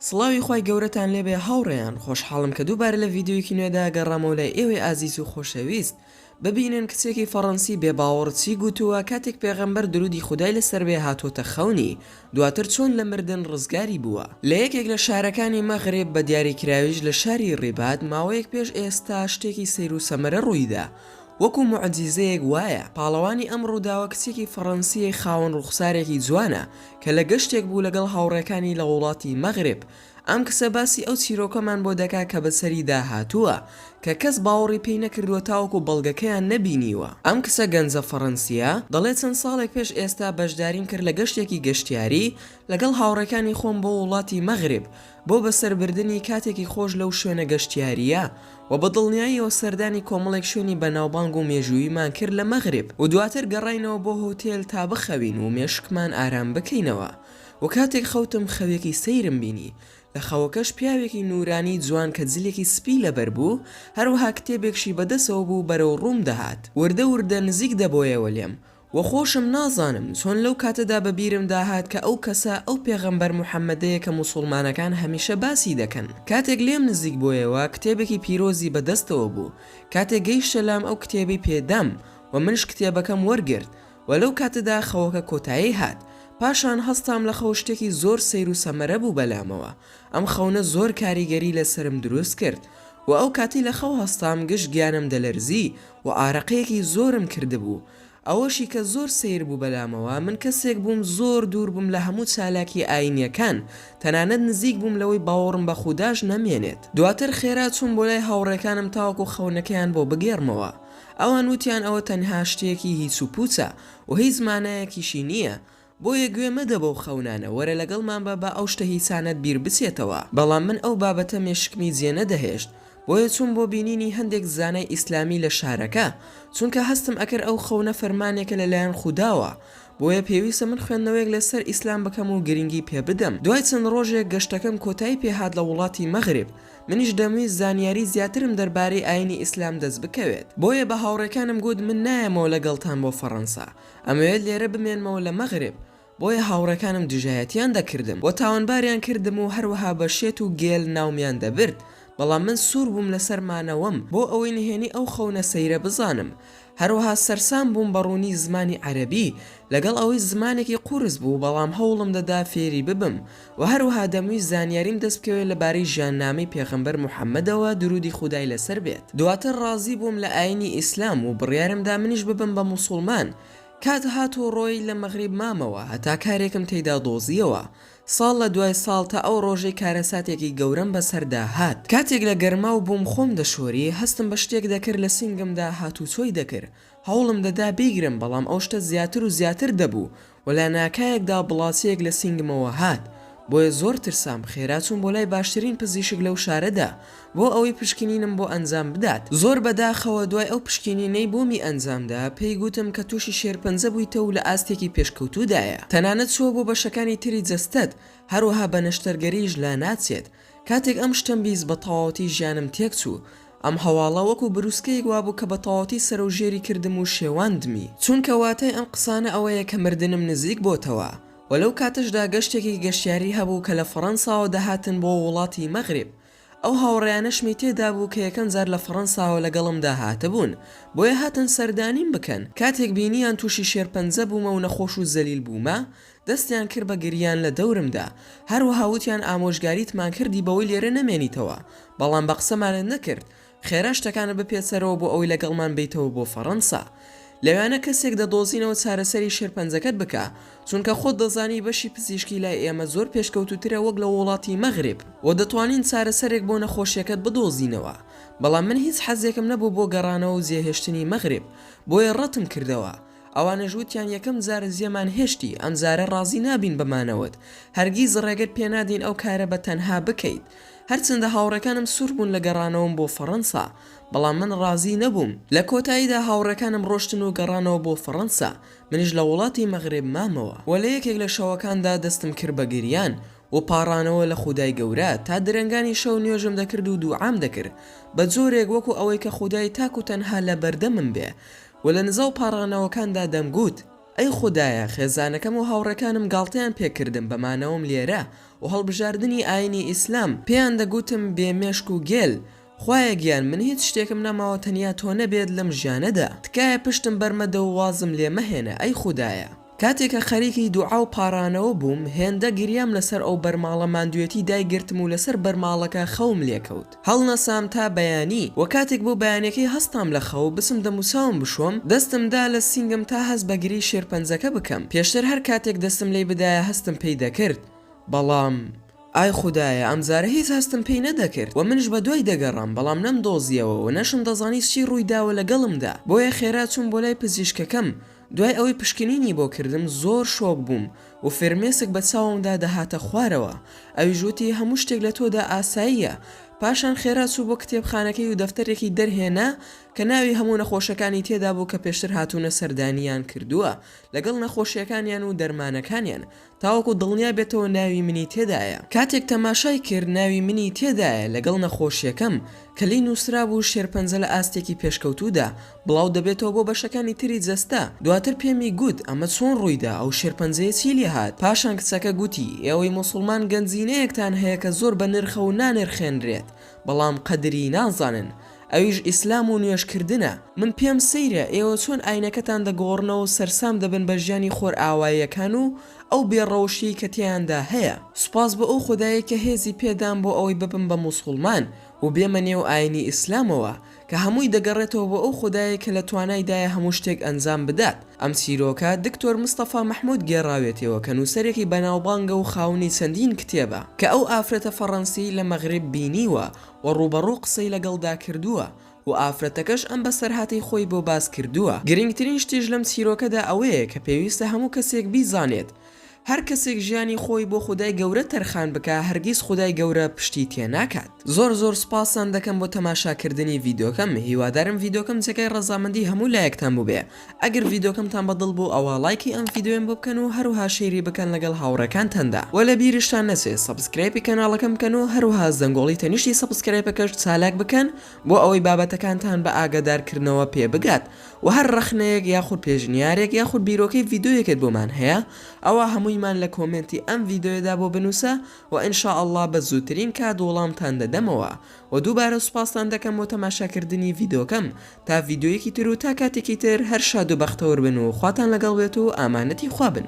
سڵاوی خوای گەورەتان لێبێ هاوڕێیان خۆشحاڵم کە دووبارە لە ڤیدیۆیەکی نوێدا گەڕامەوە لای ئێوەی ئازیز و خۆشەویست ببینن کچێکی فەڕەنسی بێ باوەڕ چی گووتووە کاتێک پێغەمبەر درودی خودای لەسەر بێ هاتووەتە خەونی دواتر چۆن لە مردن ڕزگاری بووە لە یەکێک لە شارەکانی مەغرب بە دیاریکراویش لە شاری ڕیباد ماوەیەک پێش ئێستا شتێکی سەیرو سەمەرە ڕوویدا وەکو موعجیزەیەک وایە پاڵەوانی ئەم ڕووداوە کچێکی فەڕەنسییە خاوەن ڕووخسارێکی جوانە کە لە گەشتێک بوو لەگەڵ هاوڕێکانی لە وڵاتی مەغرب، ئەم کچە باسی ئەو چیرۆکەمان بۆ دەکا کە بەسەریدا هاتووە، کە کەس باوەڕی پێی نەکردووە تاوەکو بەڵگەکەیان نەبینیوە. ئەم کچە گەنجە فەڕەنسییە دەڵێ چەند ساڵێک پێش ئێستا بەشداریم کرد لە گەشتێکی گەشتیاری لەگەڵ هاوڕێکانی خۆم بۆ وڵاتی مەغرب، بۆ بەسەربردنی کاتێکی خۆش لەو شوێنە گەشتیارییە و بە دڵنیاییەوە سەردانی کۆمەڵێک شوێنی بەناوبانگ و مێژووییمان کرد لە مەغرب و دواتر گەڕاینەوە بۆ هۆتێل تا بخەوین و مێشکمان ئارام بکەینەوە و کاتێک خەوتم خەوێکی سەیرم بینی لە خەوەکەش پیاوێکی نورانی جوان کە جلێکی سپی لەبەر بوو هەروەها کتێبێکشی بەدەسەوە بوو بەرەو ڕووم دەهات وردە وردە نزیک دەبۆیەوە لێم وە خۆشم نازانم چۆن لەو کاتەدا بە بیرم داهات کە ئەو کەسە ئەو پێغەمبەر محمدەیە کە موسوڵمانەکان هەمیشە باسی دەکەن کاتێک لێم نزیک بۆیەوە کتێبێکی پیرۆزی بە دەستەوە بوو کاتێک گەیشتە لام ئەو کتێبەی پێ دام وە منش کتێبەکەم وەرگرت وە لەو کاتەدا خەوەکە کۆتایی هات پاشان هەستام لە خەو شتێکی زۆر سەیر و سەمەرە بوو بەلامەوە ئەم خەونە زۆر کاریگەری لەسەرم دروست کرد و ئەو کاتی لە خەو هەستام گشت گیانم دەلەرزی و ئارەقەیەکی زۆرم کردبوو ئەوەشی کە زۆر سەیر بوو بەلامەوە من کەسێک بووم زۆر دوور بووم لە هەموو چالاکی ئاینیەکان تەنانەت نزیک بووم لەوەی باوەڕم بە خوداش نەمێنێت دواتر خێرا چووم بۆ لای هاوڕێکانم تاوەکو خەونەکەیان بۆ بگێڕمەوە ئەوان وتیان ئەوە تەنها شتێکی هیچ و پوچە و هیچ مانایەکیشی نییە بۆیە گوێ مەدە بەو خەونانە، وەرە لەگەڵمان بە با ئەو شتە هیچانەت بیر بچێتەوە. بەڵام من ئەو بابەتە مێشکمی جێ نەدەهێشت، بۆیە چووم بۆ بینینی هەندێک زانای ئیسلامی لە شارەکە، چونکە هەستم ئەکرد ئەو خەونە فەرمانێکە لە لایەن خوداوە، بۆیە پێویستە من خوێندنەوەیەک لە سەر ئیسلام بکەم و گرنگی پێ بدەم، دوای چەند ڕۆژێک گەشتەکەم کۆتایی پێ هات لە وڵاتی مەغرب، منیش دەمویست زانیاری زیاترم دەربارەی ئاینی ئیسلام دەست بکەوێت، بۆیە بە هاوڕێکانم گوت من نایەمەوە لەگەڵتان بۆ فەڕەنسا، ئەمەوێت لێرە بمێنمەوە لە مەغرب، بۆیە هاوڕێکانم دژایەتیان دەکردم و تاوانباریان کردم و هەروەها بە شێت و گێل ناومیان دەبرد، بەڵام من سوور بووم لەسەر مانەوەم بۆ ئەوەی نهێنی ئەو خەونە سەیرە بزانم. هەروەها سەرسام بووم بە ڕوونی زمانی عەرەبی، لەگەڵ ئەوەی زمانێکی قورس بوو، بەڵام هەوڵم دەدا فێری ببم، وە هەروەها دەمویست زانیاریم دەست بکەوێت لە بارەی ژیاننامەی پێغەمبەر محمدەوە دروودی خودای لەسەر بێت دواتر ڕازی بووم لە ئاینی ئیسلام و بڕیارم دا منیش ببم بە موسوڵمان کات هات و ڕۆیی لە مەغریب مامەوە هەتا کارێکم تیدا دۆزیەوە ساڵ لە دوای ساڵ تا ئەو ڕۆژەی کارەساتێکی گەورەم بەسەردا هات کاتێک لە گەرماو بووم خۆم دەشۆری هەستم بە شتێک دەکرد لە سینگمدا هاتوچۆی دەکرد هەوڵم دەدا بیگرم بەڵام ئەو شتە زیاتر و زیاتر دەبوو و لە ناکایەکدا بڵاچەیەک لە سینگمەوە هات بۆیە زۆر ترسام خێرا چووم بۆ لای باشترین پزیشک لەو شارەدا بۆ ئەوەی پشکنینم بۆ ئەنجام بدات زۆر بە داخەوە دوای ئەو پشکینینەی بۆمی ئەنجامدا پێی گوتم کە توشی شێرپەنجە بوویتە و لە ئاستێکی پێشکەوتوودایە تەنانەت چووە بۆ بەشەکانی تری جەستەت هەروەها بە نەشتەرگەریش لا ناچێت کاتێک ئەم شتەم بیست بە تەواوەتی ژیانم تێکچوو، ئەم هەواڵە وەکو بروسکەیەک وابوو کە بە تەواوەتی سەرەو ژێری کردم و شێواندمی، چونکە واتای ئەم قسانە ئەوەیە کە مردنم نزیک بۆتەوە، وە لەو کاتەشدا گەشتێکی گەشتیاری هەبوو کە لە فەڕەنساوە دەهاتن بۆ ووڵاتی مەغریب، ئەو هاوڕێیانەشمی تێدابوو کە یەکەم جار لە فەڕەنساوە لەگەڵمدا هاتبوون، بۆیە هاتن سەردانیم بکەن، کاتێک بینیان تووشی شێرپەنجە بوومە و نەخۆش و زەلیل بوومە، دەستیان کرد بە گریان لە دەورمدا، هەروەها وتیان ئامۆژگاریتمان کردی بەوەی لێرە نەمێنیتەوە، بەڵام بە قسەمانت نەکرد، خێرا شتەکانت بپێچ سەرەوە بۆ ئەوەی لەگەڵمان بێیتەوە بۆ فەڕەنسا. لەوێانە کەسێک دەدۆزینەوە چارەسەری شێرپەنجەکەت بکا، چونکە خۆت دەزانی بەشی پزیشکی لای ئێمە زۆر پێشکەوتووترە وەک لە ووڵاتی مەغرب و دەتوانین چارەسەرێک بۆ نەخۆشیەکەت بدۆزینەوە، بەڵام من هیچ حەزێکم نەبوو بۆ گەڕانەوە و جێهێشتنی مەغرب، بۆیە ڕەتم کردەوە. ئەوانەش وتیان یەکەم جارە جێمان هێشتی، ئەمجارە ڕازی نابین بە مانەوەت، هەرگیز ڕێگەت پێ نادەین ئەو کارە بە تەنها بکەیت. هەرچەندە هاوڕێکانم سوور بوون لە گەڕانەوەم بۆ فەڕەنسا، بەڵام من ڕازی نەبووم. لە کۆتاییدا هاوڕێکانم ڕۆشتن و گەڕانەوە بۆ فەڕەنسا، منیش لە وڵاتی مەغرب مامەوە و لە یەکێک لە شەوەکاندا دەستم کرد بە گریان و پاڕانەوە لە خودای گەورە، تا درەنگانی شەو نوێژم دەکرد و دووعام دەکرد بە جۆرێک وەکو ئەوەی کە خودای تاک و تەنها لە بەردەمم بێ و لە نزا و پاڕانەوەکاندا دەمگوت، ئەی خودایە، خێزانەکەم و هاوڕێکانم گاڵتەیان پێ کردم بە مانەوەم لێرە و هەڵبژاردنی ئایینی ئیسلام، پێیان دەگوتم، بێ مێشک و گێل، خوایە گیان، من هیچ شتێکم نەماوە تەنیا تۆ نەبێت لەم ژیانەدا، تکایە پشتم بەرمەدە و وازم لێ مەهێنە، ئەی خودایە! کاتێ کە خەریکی دوعا و پاڕانەوە بووم، هێندە گریام لەسەر ئەو بەرماڵە ماندوێتی دایگرتم و لەسەر بەرماڵەکە خەوم لێکەوت. هەڵنەسام تا بەیانی و کاتێک بۆ بەیانیەکەی هەستام لە خەو، بسم دەم و چاوم بشۆم، دەستم دا لە سینگم تا هەست بە گرێی شێرپەنجەکە بکەم. پێشتر هەر کاتێک دەستم لێی بدایە هەستم پێی دەکرد، بەڵام ئای خودایە ئەمجارە هیچ هەستم پێی نەدەکرد و منیش بە دوای دەگەڕام، بەڵام نەمدۆزیەوە و نەشم دەزانی چی ڕووی داوە لەگەڵمدا، بۆیە خێرا چووم بۆ لای پزیشکەکەم، دوای ئەوەی پشکنینی بۆ کردم زۆر شۆک بووم و فرمێسک بە چاومدا دەهاتە خوارەوە، ئەویش وتی هەموو شتێک لە تۆدا ئاساییە، پاشان خێرا چوو بۆ کتێبخانەکەی و دەفتەرێکی دەرهێنا کە ناوی هەموو نەخۆشەکانی تێدابوو کە پێشتر هاتوونە سەردانیان کردووە لەگەڵ نەخۆشیەکانیان و دەرمانەکانیان، تاوەکو دڵنیا بێتەوە ناوی منی تێدایە. کاتێک تەماشای کرد ناوی منی تێدایە لەگەڵ نەخۆشییەکەم، کە لێی نووسرابوو شێرپەنجە لە ئاستێکی پێشکەوتوودا بڵاو دەبێتەوە بۆ بەشەکانی تری جەستە، دواتر پێمی گوت ئەمە چۆن ڕوویدا، ئەو شێرپەنجەیە چی لێ هات، پاشان کچەکە گوتی ئێوەی موسڵمان گەنجینەیەکتان هەیە کە زۆر بەنرخە و نانرخێنرێت، بەڵام قەدری نازانن ئەویش ئیسلام و نوێژ کردنە. من پێم سەیرە ئێوە چۆن ئاینەکەتان دەگۆڕنەوەو سەرسام دەبن بە ژیانی خۆرئاواییەکان و ئەو بێ ڕەوشیەی کە تێیاندا هەیە سوپاس بۆ ئەو خودایەی کە هێزی پێدام بۆ ئەوەی ببم بە موسوڵمان وبێمە نێو ئاینی ئیسلامەوە کە هەمووی دەگەڕێتەوە بۆ ئەو خودایەی کە لە توانای دایە هەموو شتێک ئەنجام بدات. ئەم چیرۆکە دکتۆر مستەفا مەحمود گێڕاوێتیەوە کە نووسەرێکی بەناوبانگە و خاوەنی چەندین کتێبە کە ئەو ئافرەتە فەڕەنسیەی لە مەغریب بینیوە و ڕووبەڕوو قسەی لەگەڵدا کردووە و ئافرەتەکەش ئەم بەسەرهاتەی خۆی بۆ باس کردووە. گرنگترین شتیش لەم چیرۆکەدا ئەوەیە کە پێویستە هەموو کەسێک بیزانێت هەر کەسێک ژیانی خۆی بۆ خودای گەورە تەرخان بکا هەرگیز خودای گەورە پشتی تێ ناکات زۆر زۆر سوپاستان دەکەم بۆ تەماشا کردنی ڤیدۆکەم هیوادارم ڤیدۆکەم جێگای ڕەزامەندی هەموو لایەکتان بوبێ ئەگەر ڤیدۆکەمتان بە دڵ بوو ئەوا ڵایکی ئەم ڤیدۆیەم بۆ بکەن و هەروەها شەیری بکەن لەگەڵ هاوڕێکانتاندا وە لە بیرشتان نەچێ سەبسکرایبی کەناڵەکەم بکەن و هەروەها زەنگۆڵی تەنیشتی سەبسکرایپەکەش چالاک بکەن بۆ ئەوەی بابەتەکانتان بە ئاگادارکردنەوە پێ بگات و هەر ڕەخنەیەک یاخود پێشنیارێک یاخود بیرۆکەی ڤیدۆیەکت بۆمان هەیە ئەوا هەموویمان لە کۆمێنتی ئەم ڤیدۆیەدا بۆ بنووسە و ان شاء اللە بە زووترین کات وڵامتان دەدەمەوە و دووبارە سوپاستان دەکەم بۆ تەماشاکردنی ڤیدۆکەم تا ڤیدۆیەکی تر و تا کاتێکی تر هەر شاد و بەختەور بن و خواتان لەگەڵ بێت و ئامانەتی خوا بن.